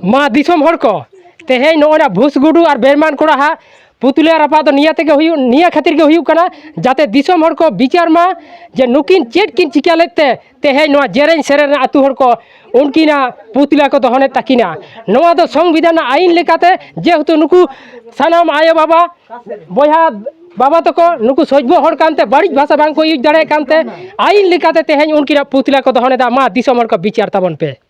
ᱢᱟ ᱫᱤᱥᱚᱢ ᱦᱚᱲ ᱠᱚ ᱛᱮᱦᱮᱧ ᱱᱚᱜᱼᱚᱭ ᱱᱟ ᱵᱷᱩᱥ ᱜᱩᱰᱩ ᱟᱨ ᱵᱮᱨᱢᱟᱱ ᱠᱚᱲᱟ ᱦᱟᱸᱜ ᱯᱩᱛᱩᱞᱤᱭᱟ ᱨᱟᱯᱟᱜ ᱫᱚ ᱱᱤᱭᱟᱹ ᱛᱮᱜᱮ ᱦᱩᱭᱩᱜ ᱱᱤᱭᱟᱹ ᱠᱷᱟᱹᱛᱤᱨ ᱜᱮ ᱦᱩᱭᱩᱜ ᱠᱟᱱᱟ ᱡᱟᱛᱮ ᱫᱤᱥᱚᱢ ᱦᱚᱲ ᱠᱚ ᱵᱤᱪᱟᱨ ᱢᱟ ᱡᱮ ᱱᱩᱠᱤᱱ ᱪᱮᱫ ᱠᱤᱱ ᱪᱤᱠᱟᱹ ᱞᱮᱫ ᱛᱮ ᱛᱮᱦᱮᱧ ᱱᱚᱣᱟ ᱡᱮᱨᱮᱧ ᱥᱮᱨᱮᱧ ᱨᱮᱱ ᱟᱹᱛᱩ ᱦᱚᱲ ᱠᱚ ᱩᱱᱠᱤᱱᱟᱜ ᱯᱩᱛᱞᱟ ᱠᱚ ᱫᱚᱦᱚᱱᱮᱫ ᱛᱟᱹᱠᱤᱱᱟ ᱱᱚᱣᱟ ᱫᱚ ᱥᱚᱝᱵᱤᱫᱷᱟᱱ ᱨᱮᱱᱟᱜ ᱟᱹᱭᱤᱱ ᱞᱮᱠᱟᱛᱮ ᱡᱮᱦᱮᱛᱩ ᱱᱩᱠᱩ ᱥᱟᱱᱟᱢ ᱟᱭᱳ ᱵᱟᱵᱟ ᱵᱚᱭᱦᱟ ᱵᱟᱵᱟ ᱛᱟᱠᱚ ᱱᱩᱠᱩ ᱥᱚᱡᱽᱵᱚ ᱦᱚᱲ ᱠᱟᱱᱛᱮ ᱵᱟᱹᱲᱤᱡ ᱵᱷᱟᱥᱟ ᱵᱟᱝᱠᱚ ᱤᱭᱩᱡᱽ ᱫᱟᱲᱮᱭᱟᱜ ᱠᱟᱱᱛᱮ ᱟᱹᱭᱤᱱ ᱞᱮᱠᱟᱛᱮ ᱛᱮᱦᱮᱧ ᱩᱱᱠᱤᱱᱟᱜ ᱯᱩᱛᱞᱟ ᱠᱚ ᱫᱚᱦᱚᱱᱮᱫᱟ ᱢᱟ ᱫᱤᱥᱚᱢ ᱦᱚᱲ ᱠᱚ ᱵᱤᱪᱟᱨ ᱛᱟᱵᱚᱱ ᱯᱮ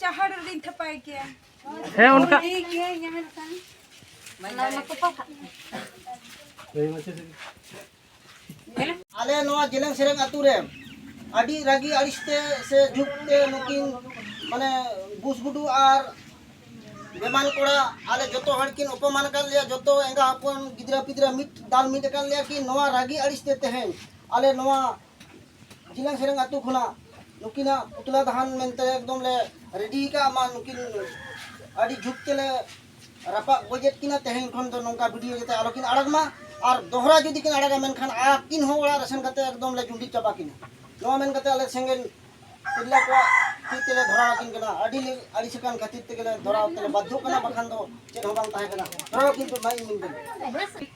ᱪᱟᱦᱟᱲ ᱨᱮᱞᱤᱧ ᱛᱷᱟᱯᱟᱭ ᱠᱮᱭᱟ ᱦᱮᱸ ᱚᱱᱠᱟ ᱴᱷᱤᱠ ᱜᱮᱭᱟ ᱤᱧᱟᱹᱜ ᱢᱮᱱᱠᱷᱟᱱ ᱚᱱᱟ ᱢᱟ ᱛᱚᱯᱟ ᱠᱟᱜ ᱟᱞᱮ ᱱᱚᱣᱟ ᱡᱮᱞᱮᱧ ᱥᱮᱨᱮᱧ ᱟᱛᱳ ᱨᱮ ᱟᱹᱰᱤ ᱨᱟᱹᱜᱤ ᱟᱹᱲᱤᱥ ᱛᱮ ᱥᱮ ᱡᱷᱩᱠ ᱛᱮ ᱱᱩᱠᱤᱱ ᱢᱟᱱᱮ ᱵᱩᱥ ᱜᱩᱰᱩ ᱟᱨ ᱵᱮᱢᱟᱱ ᱠᱚᱲᱟ ᱟᱞᱮ ᱡᱚᱛᱚ ᱦᱚᱲ ᱠᱤᱱ ᱚᱯᱚᱢᱟᱱ ᱟᱠᱟᱫ ᱞᱮᱭᱟ ᱡᱚᱛᱚ ᱮᱸᱜᱟ ᱦᱚᱯᱚᱱ ᱜᱤᱫᱽᱨᱟᱹ ᱯᱤᱫᱽᱨᱟᱹ ᱢᱤᱫ ᱫᱟᱞ ᱢᱤᱫ ᱟᱠᱟᱫ ᱞᱮᱭᱟ ᱠᱤᱱ ᱱᱚᱣᱟ ᱨᱟᱹᱜᱤ ᱟᱹᱲᱤᱥ ᱛᱮ ᱛᱮᱦᱮᱧ ᱟᱞᱮ ᱱᱚᱣᱟ ᱡᱤᱱᱟᱝ ᱥᱮᱨᱮᱝ ᱟᱹᱛᱩ ᱠᱷᱚᱱᱟᱜ ᱱᱩᱠᱤᱱᱟᱜ ᱯᱩᱛᱞᱟ ᱫᱟᱦᱟᱱ ᱢᱮᱱᱛᱮ ᱮᱠᱫᱚᱢ ᱞᱮ ᱨᱮᱰᱤ ᱠᱟᱜ ᱢᱟ ᱱᱩᱠᱤᱱ ᱟᱹᱰᱤ ᱡᱩᱛ ᱛᱮᱞᱮ ᱨᱟᱯᱟᱜ ᱜᱚᱡᱮᱫ ᱠᱤᱱᱟ ᱛᱮᱦᱮᱧ ᱠᱷᱚᱱ ᱫᱚ ᱱᱚᱝᱠᱟ ᱵᱷᱤᱰᱤᱭᱳ ᱡᱟᱛᱮ ᱟᱞᱚ ᱠᱤᱱ ᱟᱲᱟᱜ ᱢᱟ ᱟᱨ ᱫᱚᱦᱲᱟ ᱡᱩᱫᱤ ᱠᱤᱱ ᱟᱲᱟᱜᱟ ᱢᱮᱱᱠᱷᱟᱱ ᱟᱹᱠᱤᱱ ᱦᱚᱸ ᱚᱲᱟᱜ ᱨᱮ ᱥᱮᱱ ᱠᱟᱛᱮ ᱮᱠᱫᱚᱢ ᱞᱮ ᱡᱩᱸᱰᱤ ᱪᱟᱵᱟ ᱠᱤᱱᱟ ᱱᱚᱣᱟ ᱢᱮᱱ ᱠᱟᱛᱮ ᱟᱞᱮ ᱥᱮᱸᱜᱮᱞ ᱛᱤᱨᱞᱟᱹ ᱠᱚᱣᱟᱜ ᱛᱤ ᱛᱮᱞᱮ ᱫᱷᱚᱨᱟᱣ ᱟᱹᱠᱤᱱ ᱠᱟᱱᱟ ᱟᱹᱰᱤ ᱞᱮ ᱟᱹᱲᱤᱥ ᱟᱠᱟᱱ ᱠᱷᱟᱹᱛᱤᱨ ᱛᱮᱜᱮ ᱞᱮ ᱫᱷᱚᱨᱟᱣ ᱛᱮᱞᱮ ᱵᱟᱫᱽᱫᱷᱚᱜ ᱠᱟᱱᱟ ᱵᱟᱠᱷᱟᱱ ᱫᱚ ᱪᱮᱫ ᱦᱚᱸ ᱵᱟᱝ ᱛᱟᱦᱮᱸ ᱠᱟᱱᱟ ᱫᱷᱚᱨᱟᱣ ᱠᱤᱱ ᱯᱮ ᱢᱟ ᱤᱧ ᱢᱮᱱ ᱠᱟᱹᱫᱟᱹᱧ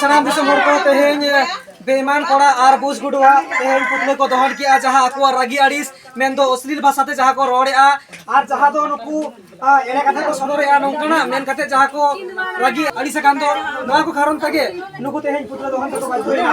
ᱥᱟᱱᱟᱢ ᱫᱤᱥᱚᱢ ᱦᱚᱲ ᱠᱚ ᱛᱮᱦᱮᱧ ᱵᱮᱢᱟᱱ ᱠᱚᱲᱟ ᱟᱨ ᱵᱩᱥ ᱜᱩᱰᱩᱣᱟ ᱛᱮᱦᱮᱧ ᱯᱩᱛᱞᱟᱹ ᱠᱚ ᱫᱚᱦᱚᱱ ᱠᱮᱜᱼᱟ ᱡᱟᱦᱟᱸ ᱟᱠᱚᱣᱟᱜ ᱨᱟᱹᱜᱤ ᱟᱹᱲᱤᱥ ᱢᱮᱱᱫᱚ ᱚᱥᱞᱤᱞ ᱵᱷᱟᱥᱟᱛᱮ ᱡᱟᱦᱟᱸ ᱠᱚ ᱨᱚᱲᱮᱜᱼᱟ ᱟᱨ ᱡᱟᱦᱟᱸ ᱫᱚ ᱱᱩᱠᱩ ᱮᱲᱮ ᱠᱟᱛᱷᱟ ᱠᱚ ᱥᱚᱫᱚᱨᱮᱜᱼᱟ ᱱᱚᱝᱠᱟᱱᱟᱜ ᱢᱮᱱ ᱠᱟᱛᱮ ᱡᱟᱦᱟᱸ ᱠᱚ ᱨᱟᱹᱜᱤ ᱟᱹᱲᱤᱥ ᱟᱠᱟᱱ ᱫᱚ ᱱᱚᱣᱟ ᱠᱚ ᱠᱟᱨᱚᱱ ᱛᱮᱜᱮ ᱱᱩᱠᱩ ᱛᱮᱦᱮᱧ ᱯᱩᱛᱞᱟᱹ ᱫᱚᱦᱚᱱ ᱛᱮᱠᱚ ᱵᱟᱫᱽᱫᱷᱚ ᱮᱱᱟ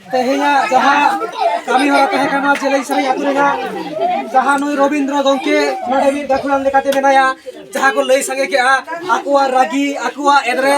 ᱛᱮᱦᱮᱧᱟᱜ ᱡᱟᱦᱟᱸ ᱠᱟᱹᱢᱤ ᱦᱚᱨᱟ ᱛᱟᱦᱮᱸ ᱠᱟᱱᱟ ᱡᱮᱞᱮᱧ ᱥᱟᱹᱨᱤ ᱟᱹᱛᱩ ᱨᱮᱱᱟᱜ ᱡᱟᱦᱟᱸ ᱱᱩᱭ ᱨᱚᱵᱤᱱᱫᱨᱚ ᱜᱚᱢᱠᱮ ᱱᱚᱰᱮ ᱢᱤᱫ ᱜᱟᱹᱠᱷᱩᱲᱟᱱ ᱞᱮᱠᱟᱛᱮ ᱢᱮᱱᱟᱭᱟ ᱡᱟᱦᱟᱸ ᱠᱚ ᱞᱟᱹᱭ ᱥᱟᱸᱜᱮ ᱠᱮᱜᱼᱟ ᱟᱠᱚᱣᱟᱜ ᱨᱟᱹᱜᱤ ᱟᱠᱚᱣᱟᱜ ᱮᱫᱨᱮ